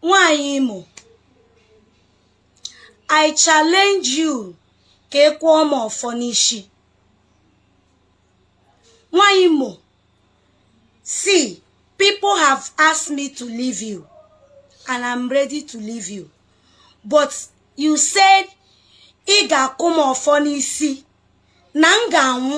nwaanyị imo i challenge you ka ị kụọ m ọfọ n'isi nwaanyị imo see people have asked me to leave you and i'm ready to leave you but you said ị ga-akụ m ọfọ n'isi na m ga-anwụ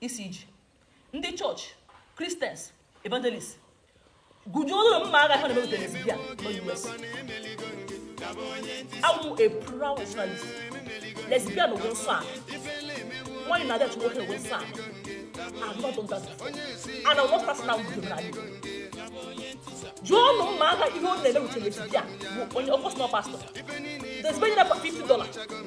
isi iji ndị chọọchị kristians evangelist gaa jụọ nụ mma agha ihe ọ na-eme with a lesbian na US awụ a proud traditionalist lesbian wụ nsọ a nwaanyị na-adị achụ nwoke wụ nsọ a I've not done that and I'm not passing out with you jụọ nụ mma agha ihe ọ na-eme with a lesbian bụ onye ọkọsọ pastọ despenye na 50 dollars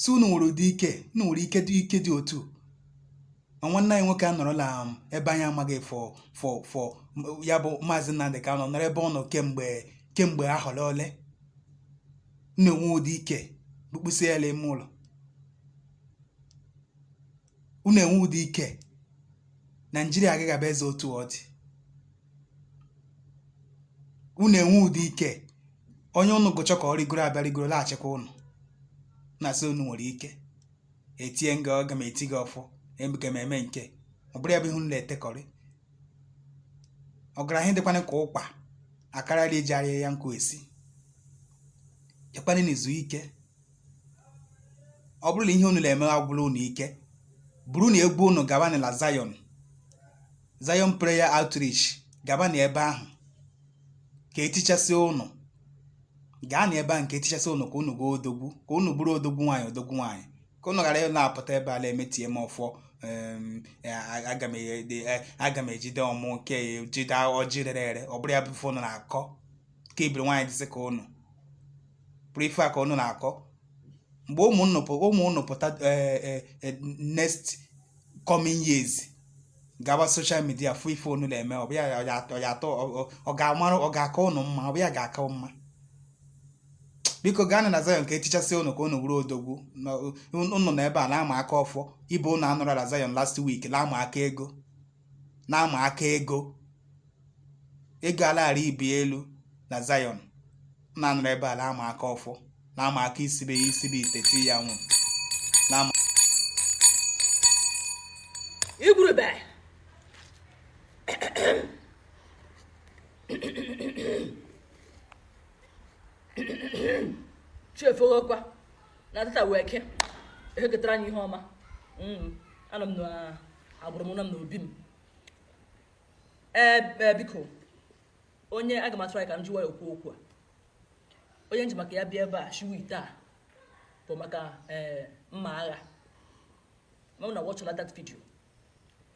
si unu nwere ụdị ike unu nwere ike dị otu a nwanne anyị nwoke anọrọla um, ebe anyị amaghị for for for m- ya bụ maazị Nnamdị Kanụ nọrọ ebe ọ nọ kemgbe kemgbe ahọ ole ole na-enwe ụdị ike bụkpụsị ya ime ụlọ unu enwe ụdị ike naijiria agaghị abụ eze otu ọ dị unu enwe ụdị ike onye ụnụ gụchọ ka ọ rịgoro abịa rịgoro laghachikwa ụnụ na-asị unu nwere ike etie nga aga m eti gị ọfọ emeke m eme nke ọ bụrụ ya bụ ihe unu na-etekọrị ọ gara ihe dịkwana ka ụkpa akarịla iji arịa ya nkụ esi jekwana n'izu ike ọ bụrụ na ihe unu na-eme agwụla unu ike buru nụ egwu unu gabanụ na Zion Zion Prayer Outreach gabanụ ebe ahụ ka etichasị unu gaanụ ebe ahụ ka etichasị unu ka unu ghọọ odogwu ka unu bụrụ odogwu nwaanyị odogwu nwaanyị ka unu ghara na-apụta ebe a na-emetie m ọfọ aga m ejide ọmụ nke jide ọjị rere ere ọ bụrụ ya bụ ife unu na-akọ ka ibiri nwaanyị dịsị ka ụnụ bụrụ ife a ka ụnụ na-akọ mgbe ụmụ nnụ pụ- ụmụ ụnụ pụta eh, eh, eh, next coming years gaba soshal midia fụ ife ụnụ na-eme ọ bụ ya ọ ya- ọ ya atọ ọ- ọ- ọ ga-amarụ ọ ga-aka ụnụ mma ọ bụ ya ga-aka mma biko gaanụ na Zion ka etichasị ụnụ ka ụnụ bụrụ odogwu Na- ụnụ nọ ebe a na-ama aka ọfọ ibe ụnụ anọrọ na Zion last week na-ama aka ego na-ama aka ego ego a la-aghara ibi elu na Zion na-anọrọ ebe a na-ama aka ọfọ na-ama aka isibe ya isibe ite ti ya nwụ na-ama igwurube chefuokwa na tata wụ eke eke ketara anyị ihe ọma mm, anọ m na agbụrụ m nọ m n'obi m ee e, biko onye aga m atụrụ anyị ka m jụwa ya okwu okwu a onye m ji maka ya bịa ebe a shiwa ite a bụ maka ee mma agha ma na watch that video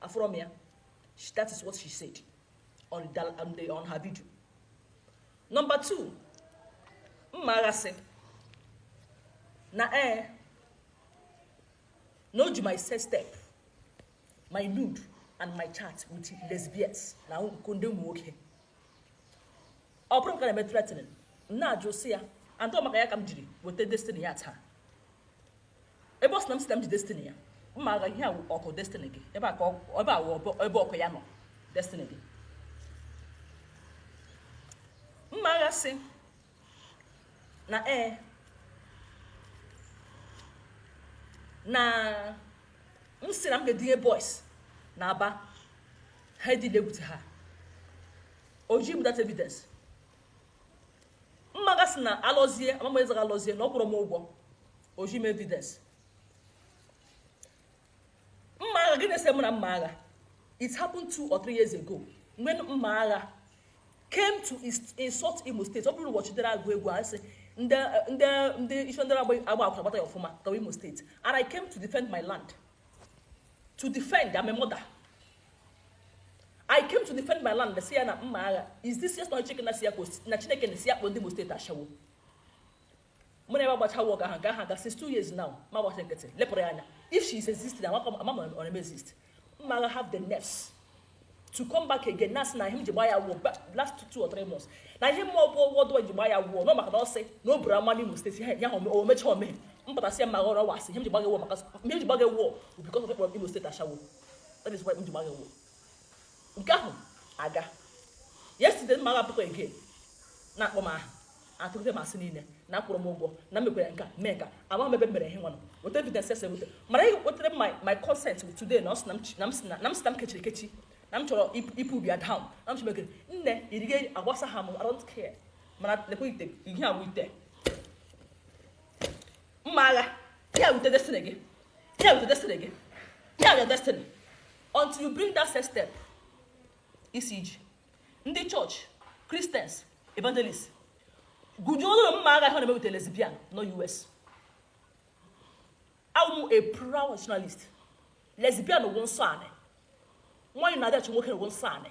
afụrụ m ya that is what she said on, the, on, the, on her video number two mma agha sị na ee eh, na o ji my sex tape my nude and my chat with lesbians na nke ndị ụmụ nwoke ọ bụrụ m ka na-eme threatening m na-ajụ sị ya and ọ maka ya ka m jiri weta destiny ya taa ebe ọ sị na m sị na m ji destiny ya mma agha ihe a wụ ọkụ destiny gị ebe a ka ebe a wụ ebe ọkụ ya nọ destiny gị mma agha sị na ee na m sị na m ga-edinye boys na aba ha e-deal with ha o ji m that evidence mma agha sị na alọzie amama ezaga alọzie na ọ kwụrụ m ụgwọ o ji m evidence mma agha gịnị na-ese mụ na mma agha it happened two or three years ago when mma agha came to insult imo state ọ bụrụ ụbọchị dere agụ egwu a sị ndị ndị ndị isi ndị na-agba akwụna gbata ya ọfụma gawa imo state and i came to defend my land to defend I'm a mother i came to defend my land si ya na mma agha is this yes na chike na si ya na chineke na si ya kpọ ndị imo state ashawo mụ na ebe agbacha wọk ahụ nke ahụ aga since two years now m agbachi nkịtị lepụrụ ya anya if she is existing ama ọ na exist mma agha have the nerves to come back again na asị na ihe m ji gba ya wụọ last two or three months na ihe mụ bụ ụgwọ dụwa ji gba ya wụọ na ọ maka na ọ sị na o buru ama n'imo state ya ha omecha omeghe m pụta sị ya mma agha ọ wụghị ihe m ji gba gị wụọ maka ihe m ji gba gị wụọ because of ị kpọrọ imo state ashawo that is why m ji gba gị wụọ nke ahụ aga yesterday mma agha pụtakwa again na-akpọ m aha atụgide m asị niile na akwụrụ m ụgwọ na mekwere nka mee nka ama m ebe m mere ihe nwanụ weta evidence ese weta mara ihe wetara m my- my concern with today na ọ sị na m chi- na m sị na- na m sị na m kechiri ekechi na m chọrọ ip- ipu ubi ya down na m chọrọ ekere nne irige agbasaha m I don't care mana lekwa ite ihe a wụ ite mma agha ihe a wụ ite destiny gị ihe a wụ ite destiny gị ihe a wụ your destiny until you bring that sex tape ị sị i ji ndị church christians evangelist gujuo ụlọ mma agha ha na-emewute lesbian nọ us awụ m a proud traditionalist lesbian wụ nsọ anị nwaanyị na-adịachi nwoke wụ nsọ anị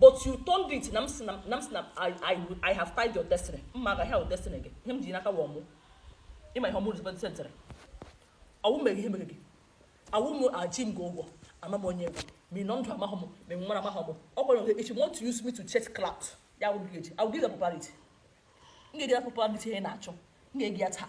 but you turned it na m si na m si na I, I, I have tied your destiny Mmagha destiny gị ihe m ji n'aka wụ ọmụ ị ma ihe ọmụ representiri ọ wụ m mere ihe mere gị ọ wụ m eji m gị ụgwọ ama m onye ị wụ ma ị nọ ndụ amaghị m ma ị nwụrụ amaghị m ọ gwara gị if you want to use me to chase clout I will give it I will give gị popularity m ga-enye gị popularity ị na-achọ m ga-enye gị ya taa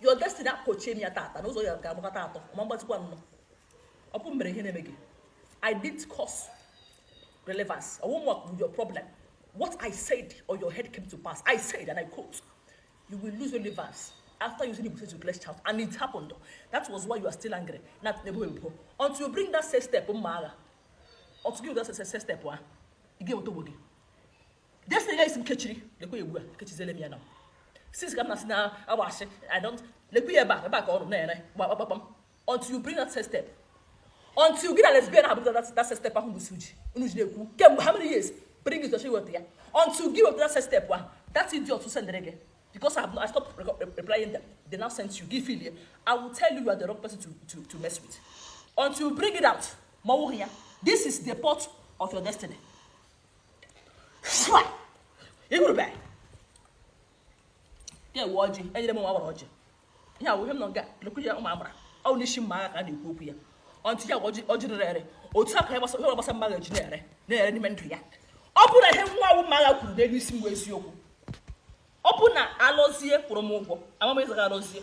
your destiny akpọchie m ya tata n'ụzọ ya ga-agbakọta atọ ma mgbatịkwa anọ ọ bụ m mere ihe na-eme gị i didn't cause relevance i won't work with your problem what i said on your head came to pass i said and i quote you will lose relevance after using the Igbo to bless child and it happened that was why you are still angry na nebo ebo until you bring that sex tape Mmagha until you bring that sex tape ahụ ị gaghị enweta onwe gị Destiny gị ka m kechiri. Lekwa ya ebe a, ekechizila m ya now. Since ka m na-asị na agba asị, I don't, lekwa ya ebe a, ebe a ka ọ nọ na-ere, gbakpakpakpam. Until you bring that sex tape. Until gị na lesbian ahụ butara that sex tape ahụ both of you unu ji na-ekwu, kemgbe how many years? Bring it to social media. Until gị wepụta that sex tape ahụ, that idiot ahụ sendịrị gị. Because I, have, I stopped re re replying them. They now sent you. Gị failure. I will tell you you are the wrong person to, to, to mess with. Until you bring it out, ma ọ wụghị ya, this is the pot of your destiny. igurube ihe a wụ ọjị e nyere m nwa agbara ọjị ihe a wụ ihe m nọ nga a na-ekwu ya ụmụ agbara ọ bụ n'isi Mmagha ka a na-ekwu okwu ya ọ ntị ya ọjị ọjị rere ere otu a ka ihe gbasa ihe gbasara Mmagha ji na-ere na-ere n'ime ndụ ya ọ bụrụ na ihe nwa a wụ Mmagha kwuru n'elu isi m wụ eziokwu ọ bụrụ na Alozie kwụrụ m ụgwọ amam ịzaga Alozie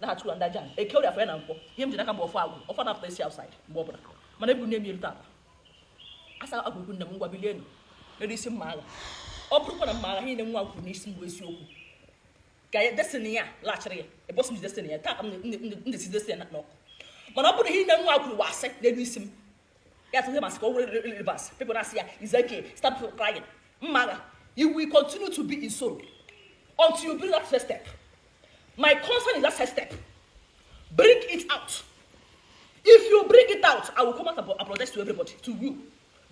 na-achụ ya ndị aja eke orie afọ ya na nkwọ ihe m ji n'aka bụ ọfọ agwụ ọ naghị apụtasị outside mgbe ọ bụla mana ebu nne m erute aka asa agwụgwu nne m ngwa bilienụ n'elu isi Mmagha ọ bụrụkwa na Mmagha ihe nwa a kwuru n'isi m wụ eziokwu ka ya destiny ya laghachiri ya ebosi m destiny ya taa ka m ndesi destiny ya n'ọkụ mana ọ bụrụ ihe nne nwa a kwuru wụ asị n'elu isi m ya tụrụ masị ka o were rivers people na-asị ya is okay stop crying mma agha you will continue to be in sorrow until you bring that first step my concern is that first step bring it out if you bring it out i will come out and apologize to everybody to you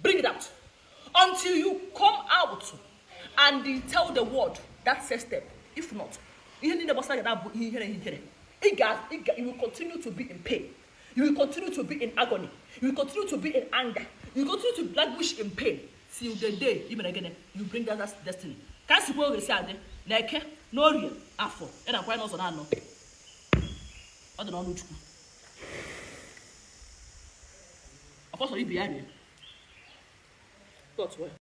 bring it out until you come out and tell the world that first step if not ihe niile gbasara gị na-abụ ihe ihere ihere ị ga you will continue to be in pain You will continue to be in agony. You will continue to be in anger. You will continue to languish in pain till the day ị mere gịnị you bring down that destiny. Ka m si kwuo ọ ga-esi adị na eke na orie afọ ya na nkwọ n'ụzọ anọ. Ọ dị n'ọnụ Chukwu. Ọkọ soro ibe ya rie. Tọtụ